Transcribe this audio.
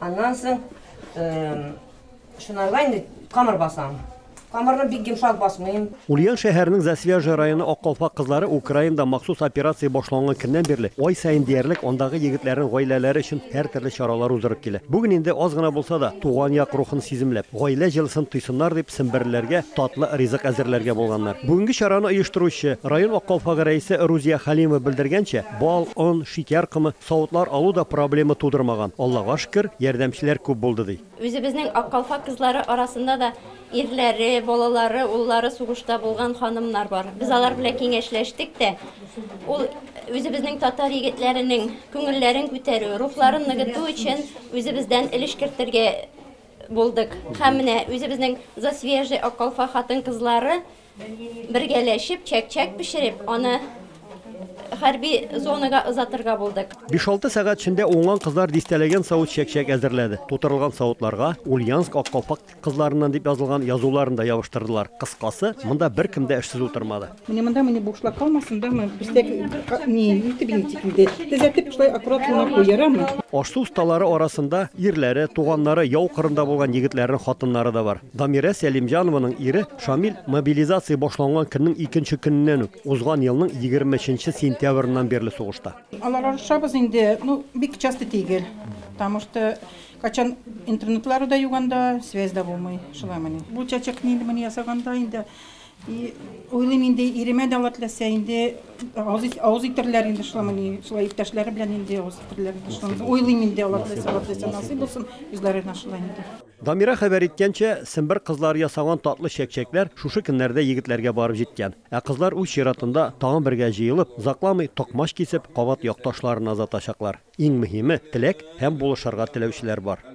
Аннан соң шунарга инде камыр басам. Камырны бик йомшак басмыйм. Ульян шәһәренең Засвяжа районы Аккалфак кызлары Украинада махсус операция башланган көннән бирле ай саен диярлек андагы егетләрнең гаиләләре өчен һәртөрле чаралар уздырып килә. Бүген инде аз гына булса да, туган як рухын сиземләп, гаилә җылысын тойсыннар дип, семберләргә татлы ризык әзерләргә булганнар. Бүгенге чараны оештыручы, район Аккалфагы рәисе Рузия Халимова белдергәнчә, бал, он, шикәр комы, Савытлар алу да проблема тудырмаган, Аллага шөкер, ярдәмчеләр күп булды, ди. Үзебезнең Ак калфак кызлары арасында да ирләре, балалары, уллары сугышта булган ханымнар бар. Без алар белән киңәшләштек тә. Ул үзебезнең татар егетләренең күңелләрен күтәрү, рухларын ныгыту өчен үзебездән өлеш кертергә булдык. Һәм менә үзебезнең Засвежий Ак калфак хатын-кызлары Бергәләшеп чәк-чәк пешереп, аны хәрби зонага озатырга булдык. Биш-алты сәгать эчендә уңган кызлар дистәләгән савыт чәк-чәк әзерләде. Тутырылган савытларга Ульяновск аккалфак кызларыннан дип язылган язуларын да ябыштырдылар. Кыскасы, монда беркем дә эшсез утырмады. Менә монда менә бушлак калмасын да, моны пестәк ни итеп интик инде. Төзәтеп шулай аккурат гына куй, ярамы? Аш-су осталары арасында ирләре, туганнары, яу кырында булган егетләрнең хатыннары да бар. Дамирә Сәлимҗанованың ире Шамил мобилизация башланган көннең икенче көненнән үк, узган елның 23 сентябреннан бирле сугышта. Алар арышабыз инде, ну, бик часто тигел. Потому что кайчан интернетлары да юк анда, связь да булмый. Шулай мени. Бу чәчәк нинди мени ясаганда инде, и уйлыйм инде, иремә дә Алла теләсә инде авыз авыз итерләр инде шулай мени, шулай иптәшләре белән инде авыз итерләр инде шулай. Уйлыйм инде Алла теләсә, Алла теләсә насыйп булсын, үзләренә шулай инде. Дамира хәбәр иткәнчә, сембер кызлары ясаган татлы чәкчәкләр шушы көннәрдә егетләргә барып җиткән. Ә кызлар үз чиратында тагын бергә җыелып, озакламый токмач кисеп, кабат якташларына озатачаклар. Иң мөһиме, теләк һәм булышырга теләүчеләр бар.